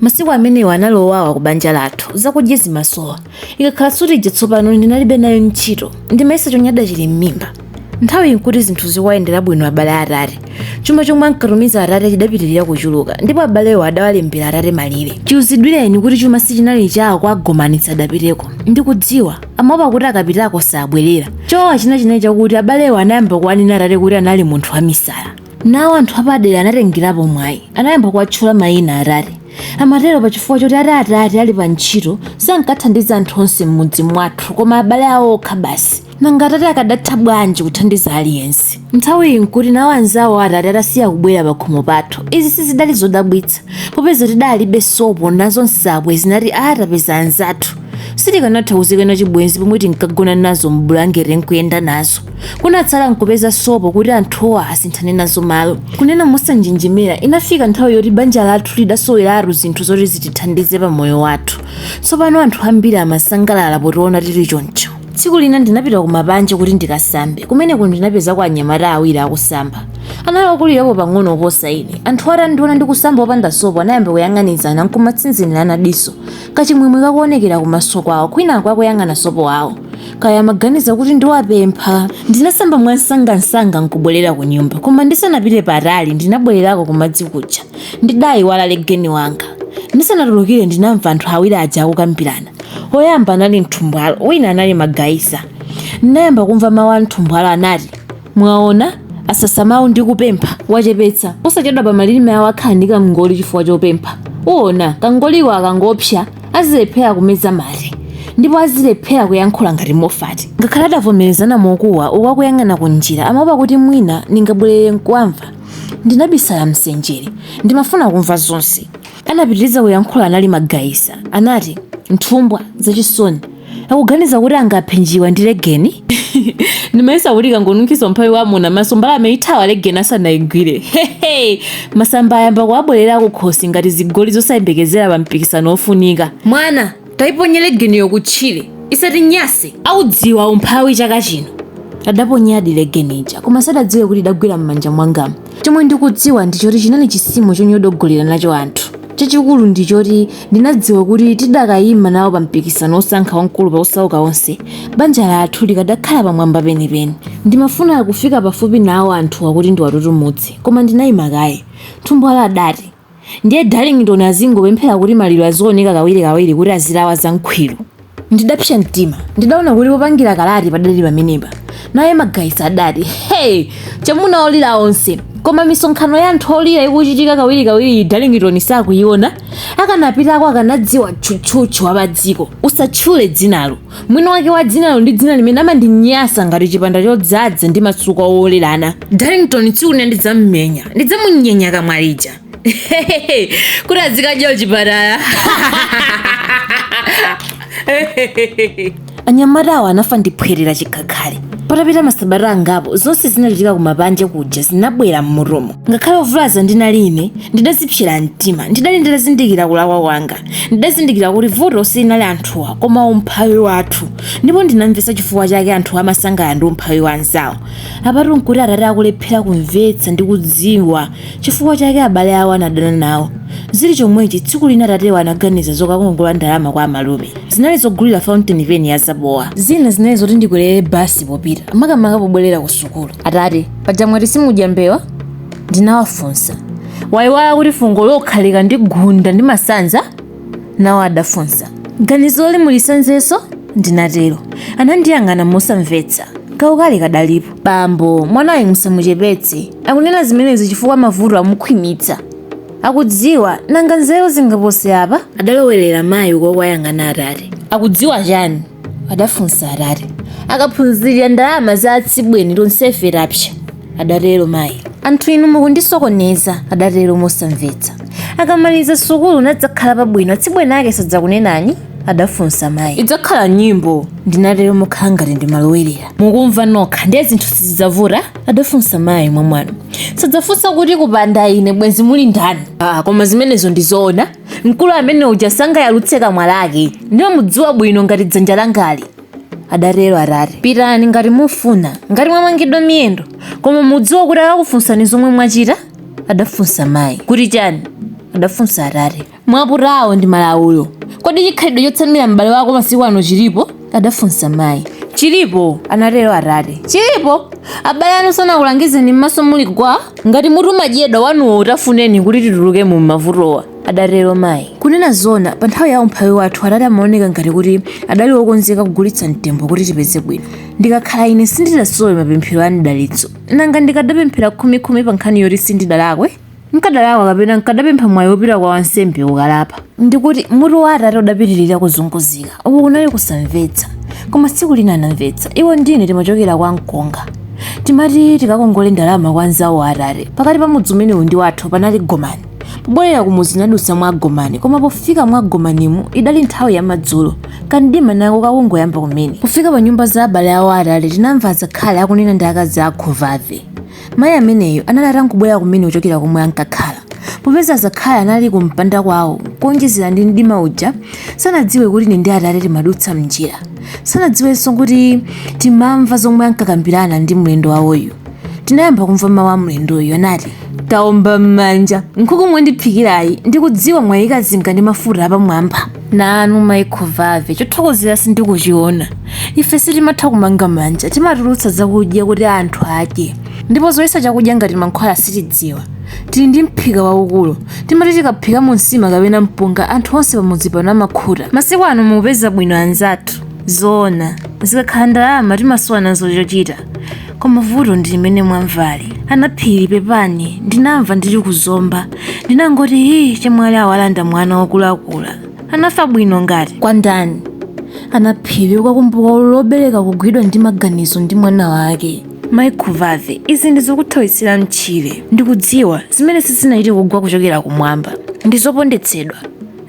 Masiku amenewa anali owawa ku banja lathu. Zakudya zimasowa. Ikakhala sutidya tsopano ndinalibe nayo ntchito. Ndimayesa chonyada chili m'mimba. Nthawiyi n'kuti zinthu zikuwayendera bwino abale a atate. Chuma chomwe ankatumiza atate chidapitirira kuchuluka, ndipo abalewo adawalembera atate malire. Chiuzidwireni kuti chuma sichinali chawo kwa Gomani sadapiteko. Ndikudziwa, amaopa kuti akapitako sabwerera. Chowawa china chinali chakuti abalewo anayamba kuwanena atate kuti anali munthu wamisala. Nawo anthu apadera anatengerapo mwayi, anayamba kuwatchula mayina atate. Amatero pa chifukwa choti ati atate ali pa ntchito sankathandiza anthu onse m'mudzi mwathu koma abale awo okha basi. Nanga atate akadatha bwanji kuthandiza aliyense? Nthawiyi n'kuti nawo anzawo a atate atasiya kubwera pakhomo pathu. Izi sizidali zodabwitsa popeza tidalibe sopo nazo nsabwe zinati aa tapeza anzathu. Sitikanatha kuzikana chibwenzi pomwe tinkagona nazo m'bulangete n'kuyenda nazo. Kunatsala n'kupeza sopo kuti anthuwa asinthane nazo malo. Kunena mosanjenjemera, inafika nthawi yoti banja lathu lidasoweratu zinthu zoti zitithandize pa moyo wathu. Tsopano anthu ambiri amasangalala potiona tili choncho. Tsiku lina ndinapita kumapanja kuti ndikasambe. Kumeneko ndinapezako anyamata awiri akusamba. Anali okulirapo pang'ono kuposa ine. Anthuwa atandiona ndikusamba opanda sopo anayamba kuyang'anizana n'kumatsinzinirana diso. kachimwemwe kakuonekera kumaso kwawo kwinaku akuyang'ana sopo wawo kaya amaganiza kuti ndiwapempha ndinasamba mwansangansanga nkubwerera ku nyumba koma ndisanapite patali ndinabwererako kumadzi kuja ndidayiwala legeni wanga ndisanatulukire ndinamva anthu awiri aja akukambirana woyamba anali mthumbwalo wina anali magayisa ndinayamba kumva mawu a mthumbwalo anati Mwaona, asasa mawu ndi kupempha, wachepetsa. Posachedwapa malirime awo akhala ndi kam'ngoli chifukwa chopempha. Uwona, kangoliko akangopsya, azilephera kumeza mate. Ndipo azilephera kuyankhula ngati Mofati. Ngakhale adavomerezana mokuwa, uko akuyang'ana ku njira, amawopa kuti mwina ndingabwerere nkuwamva. Ndinabisala m'senjere. Ndimafuna kumva zonse. Anapitiriza kuyankhula anali Magayisa anati Mthumbwa zachisoni akuganiza kuti angaphe njiwa ndi legeni? Ndimayesa kuti ikangonunkhiza umphawi wa muna m'maso mbalame ithawa legeni asanaigwire hehe! Masamba ayamba kuwabwerera kukhosi ngati zigoli zosayembekezera pa mpikisano wofunika. Mwana! taiponye legeniyo kutchire isatinyase audziwa umphawi chaka chino adaponyadi legeni ija koma sadadziwe kuti idagwera m'manja mwanga chomwe ndikudziwa ndi choti chinali chisimo chonyodogolera nacho anthu chachikulu ndi choti ndinadziwa kuti tidakayima nawo pa mpikisano wosankha wamkulu pa osauka onse banja lathu likadakhala pamwamba penipeni ndimafuna kufika pafupi nawo anthuwa kuti ndiwatutumutse koma ndinayima kaye mthumbwalo adati ndiye darlington azingopemphera kuti maliro azioneka kawirikawiri kuti azilawa za nkhwiru ndidapsa mtima ndidaona kuti popangira kalati padali pamenepa naye magaisa adati hey chamuna olira onse koma misonkhano ya anthu olira ikuchitika kawirikawiri darlington sakuyiona akanapitako akanadziwa tchutchutchu wa padziko usatchule dzinalo Mwini wake wa dzinalo ndi dzina limene amandinyasa ngati chipanda chodzadza ndi matsukwa owolerana. Darlington tsiku lina ndidzammenya. Ndidzamunyenya kamwa lija. Kuti azikadya kuchipatala. Anyamatawo anafa ndi phwete la chikhakhali. Patapita masabata angapo, zonse zinachitika ku mapanje kuja zinabwera m'mutumo. Ngakhale ovulaza ndinali ine, ndidazipsera mtima. Ndidali nditazindikira kulakwa kwanga. ndidazindikira kuti vuto silinali anthuwa koma umphawi wathu ndipo ndinamvetsa chifukwa chake anthu amasangalala ndi umphawi wa anzawo apatu nkuti atate akulephera kumvetsa ndi kudziwa chifukwa chake abale awo anadana nawo zili chomwechi tsiku lina atatewa anaganiza zokakongola ndalama kwa amalume zinali zogulira fountain pen ya zabowa zina zinali zoti ndikwerere basi popita makamaka pobwerera ku sukulu atate paja mwati simudya mbewa ndinawafunsa waiwala kuti fungo lokha likandigunda ndi masanza nawo adafunsa ganizoli mulisanzenso ndinatero anandiyang'ana mosamvetsa kaukali kadalipo bambo mwanayu musamuchepetse akunena zimenezi chifukwa mavuto amukhwimitsa akudziwa nanga nzeru zingapose apa adalowerera mayi uku akuwayang'ana atate akudziwa chani adafunsa atate akaphunzirira ndalama za atsibweni tonsefe tapsa adatero mayi anthu inu mukundisokoneza adatero mosamvetsa akamaliza sukulu nadzakhala pabwino atsibweni ake sadzakunenani adafunsa mayi idzakhala nyimbo ndinatero mokhala ngati ndimalowerera mukumva nokha ndiye zinthu sizidzavuta adafunsa mayi mwamwano sadzafunsa kuti kupanda ine bwenzi muli ndani ah, koma zimenezo ndizoona mkulu amene uja sangayalutse kamwa lake ndimamudziwa bwino ngati dzanja langali adatero atate pitani ngati mufuna ngati mwamangidwa miyendo koma mudziwa kuti akakufunsani zomwe mwachita adafunsa mayi kuti chani adafunsa atate mwaputawo ndi malawulo kodi chikhalidwe chotsamira m'bale wako masiku ano chilipo adafunsa mayi. Chilipo, anatero atate. Chilipo, abale anu sanakulangizeni m'maso muli gwa? Ngati mutu umadyedwa wanuwo utafuneni kuti titulukemo m'mavutowa, adatero mayi. Kunena zoona, pa nthawi ya umphawi wathu atate amaoneka ngati kuti adali wokonzeka kugulitsa mtembo kuti tipeze bwino. Ndikakhala ine sindidasowe mapemphero a m'dalitso. Nanga ndikadapemphera khumikhumi pa nkhani yoti sindidalakwe? nkadalakwa kapena nkadapempha mwayi wopita kwa wansembe kukalapa ndikuti mutu wa atate udapitirira kuzunguzika uku kunali kusamvetsa koma tsiku lina anamvetsa iwo ndine timachokera kwa mkonga timati tikakongole ndalama kwa nzawo wa atate pakati pa mudzi umenewu ndi wathu panali gomani pobwerera kumudzi tinadutsa mwa gomani koma pofika mwa gomanimu idali nthawi ya madzulo kamdima nako kakungoyamba kumene pofika pa nyumba za abale awo atate tinamva azakhali akunena ndi akazi a khovave Mayi ameneyo anali atangobwera kumene kuchokera komwe ankakhala. Popeza azakhali anali kumpanda kwawo, kuonjezera ndi mdima uja, sanadziwe kuti ine ndi Atate timadutsa m'njira. Sanadziwenso kuti timamva zomwe ankakambirana ndi mlendo wawoyu. Tinayamba kumva mawu a mlendoyu, anati, Taomba m'manja, nkhuku mwandiphikirayi ndikudziwa mwaikazinga ndi mafuta apamwamba. nanu mayi khovave chothokozera sindikuchiona ife sitimatha kumanga manja timatulutsa zakudya kuti anthu adye ndipo zoyesa chakudya ngati mankhwala sitidziwa tili ndi mphika waukulu timati tikaphikamo nsima kapena mpunga anthu onse pamudzi pano amakhuta masiku ano mukupeza bwino anzathu zoona zikakhala ndalama timasowa nazo chochita koma vuto ndi limene mwamvali anaphiri pepani ndinamva ndili ku zomba ndinangoti hii chemwali awalanda mwana wokulakula anafa bwino ngati kwa ndani anaphiri ukakumbuka ululu wobereka kugwidwa ndi maganizo ndi mwana wake mayi khovave izi ndizokuthawitsira mtchire ndikudziwa zimenezi sizinachite kugwa kuchokera kumwamba ndizopondetsedwa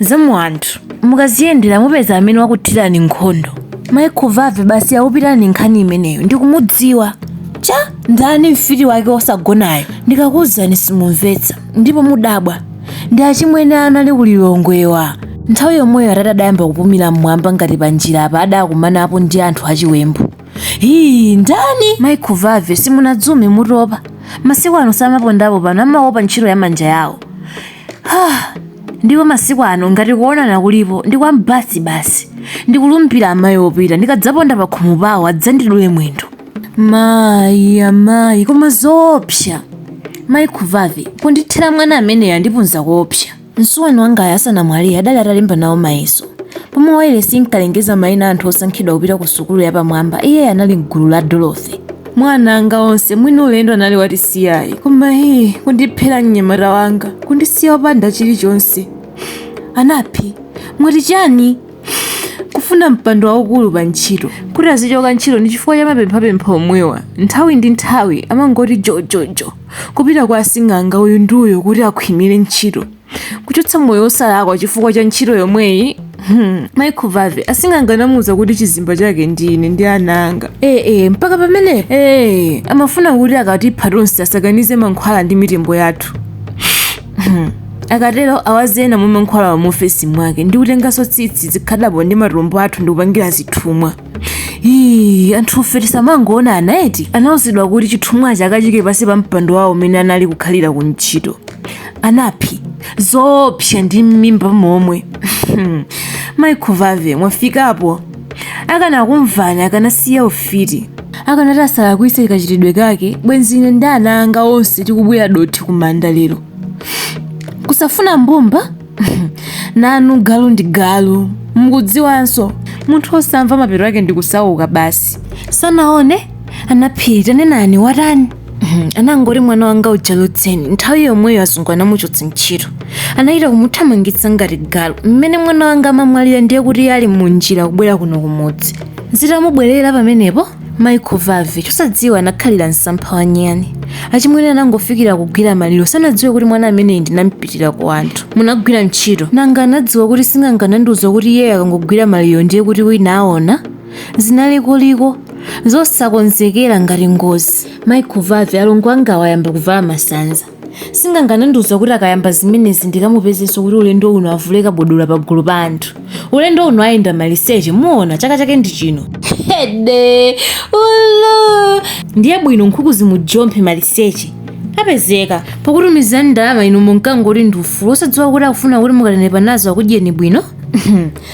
za mu anthu mukaziyendera mupeza amene wakuthirani nkhondo mayi khovave basi yakupitani nkhani imeneyo ndikumudziwa cha ndani mfiti wake osagonayo ndikakuuzani simumvetsa ndipo mudabwa ndi achimwene anali ku lilongwewa nthawi yomweyo atati adayamba kupumira mmwamba ngati panjira apa adakumanapo ndi anthu achiwembu hii ndani mayi khovave simunadzume mutopa masiku ano samapondapo pano amaopa ntchito ya manja yawo ndipo masiku ano ngati kuonana kulipo ndi kwa m'basi basi ndikulumbira amayi opita ndikadzaponda pa khomo pawo adzandidule mwendo mayi amayi koma zoopsa mayi khovave kundithera mwana ameneyo andipunza koopsa msuwani wangayo asanamwalire adali atalemba nawo mayeso pomwe wailesi inkalengeza mayina a anthu osankhidwa kupita ku sukulu yapamwamba iye anali mgulu la dorothy mwa ana anga onse mwini ulendo anali watisiyayi koma hii kundiphera mnyamata wanga kundisiya wopanda chilichonse anaphi mwati chani kufuna mpando waukulu pa ntchito kuti azichoka ntchito ndi chifukwa cha mapemphapempha omwewa nthawi ndi nthawi amangoti jojojo kupita kwa asing'anga uyu ndi uyo kuti akhwimire ntchito kuchotsa moyo wosalakwa chifukwa cha ntchito yomweyi Hmm. mayi ake Vave asing'anga anamuuza kuti chizimba chake ndine ndi ana anga ee eh, eh, mpaka pamene ee eh, amafuna kuti akatipha tonse asakanize mankhwala ndi mitembo yathu hmm. akatero awaze ena mwa mankhwalawa mu ofesi mwake ndi kutenganso tsitsi zikhadabo ndi matumbo athu ndi kupangira zithumwa Ii, anthufe tisamangoonana eti anauzidwa kuti chithumwachi akachiike pansi pa mpando wawo umene anali kukhalira ku ntchito anaphi zoopsa ndi m'mimba momwe mayi ake Vave mwafikapo akanakumvani akanasiya ufiti akanati asalakwise kachitidwe kake bwenzi ine ndi ana anga onse tikubwira dothi kumanda lero kusafuna mbumba nanu galu ndi galu mukudziwanso munthu osamva mapeto ake ndi kusauka basi sanaone anaphiri tanenani watani Mhm, anangoti mwana wanga uja lodzeni nthawi yomweyo azungu anamuchotsa ntchito anachita kumuthamangitsa ngati galu mmene mwana wanga amamwalira ndiye kuti iye ali mu njira kubwera kuno kumudzi zitamubwerera pamenepo mayi ake Vave chosadziwa anakhalira msampha wa nyani achimwene anangofikira kugwira maliro sanadziwe kuti mwana ameneyi ndinampitira ku anthu munagwira ntchito nanga anadziwa kuti sing'anga anandiuza kuti iye akangogwira maliro ndiye kuti wina aona zinalikoliko zosakonzekera ngati ngozi mayi ake Vave alongo angawa ayamba kuvala masanza sing'anga anandiuza kuti akayamba zimenezi ndikamupezenso kuti ulendo uno avule kabodola pagulu pa anthu ulendo uno ayenda maliseche muona chaka chake ndi chino hede ulo ndiye bwino nkhuku zimujomphe maliseche apezeka pokutumizani ndalama inu munkangoti ndi ufulu osadziwa kuti akufuna kuti mukanenepa nazo akudyeni bwino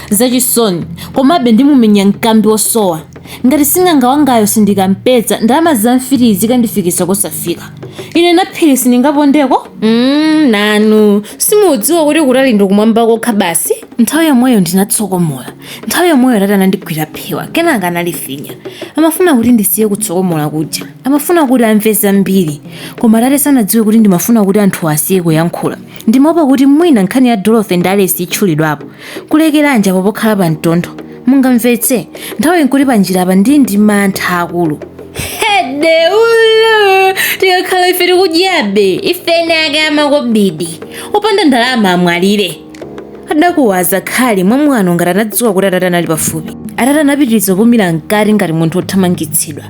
zachisoni komabe ndimumenya mkambi wosowa Ngati sing'anga wangayo sindikampeza, ndalama za mfitiyi zikandifikisa kosafika. Ine Naphiri sindingapondeko? mm, nanu simudziwa kuti kutali ndi kumwamba kokha basi? Nthawi yomweyo ndinatsokomola. Nthawi yomweyo atate anandigwira phewa, kenaka analifinya. Amafuna kuti ndisiye kutsokomola kuja. Amafuna kuti amve zambiri. Koma atate sanadziwe kuti ndimafuna kuti anthuwa asiye kuyankhula. Ndimaopa kuti mwina nkhani ya Dorothy ndi Alice itchulidwapo. Kulekeranji apo pokhala pa mtondo? Mungamvetse, nthawiyi nkuti pa njira apa ndili ndi mantha akulu. Hedeulo! Tikakhala ife tikudyabe, ife eni ake a makobidi. Opanda ndalama amwalire. Adakuwa Zakhali mwamwano ngati anadziwa kuti atate anali pafupi. Atate anapitiriza kupumira mkati ngati munthu wothamangitsidwa.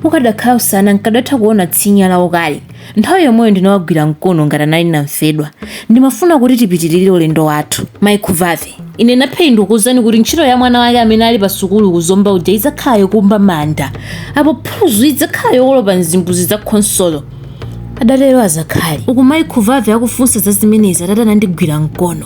Ukadakhala usana nkadatha kuona tsinya lawo kale. Nthawi yomweyo ndinawagwira mkono ngati anali namfedwa. Ndimafuna kuti tipitirire ulendo wathu. Mai Khuvave. Ine Naphiri ndikukuuzani kuti ntchito ya mwana wake amene ali pa sukulu ku Zomba uja idzakhala yokumba manda. Apo phuluzi idzakhala yokolopa mzimbuzi za konsolo. Adatero azakhali. Uku mai Khuvave akufunsa za zimenezi atate anandigwira mkono.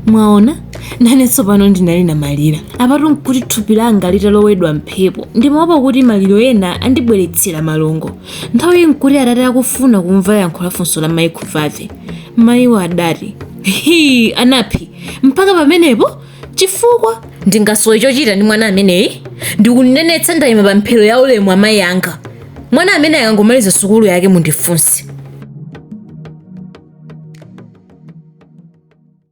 Mwaona? Nanenso pano ndinali namalira. Apatu nkuti thupi langa litalowedwa mphepo. Ndimaopa kuti maliro ena andibweretsera malungo. Nthawi iyi nkuti atate akufuna kumva yankho la funso la mayi Khuvave. Mayiwo adati, Hii, a Naphiri, mpaka pamenepo? Chifukwa? Ndingasowe chochita ndi mwana ameneyi? Ndikunenetsa ndaima pa mpheto ya ulemu wa mayi anga. Mwana amene akangomaliza sukulu yake mundifunse.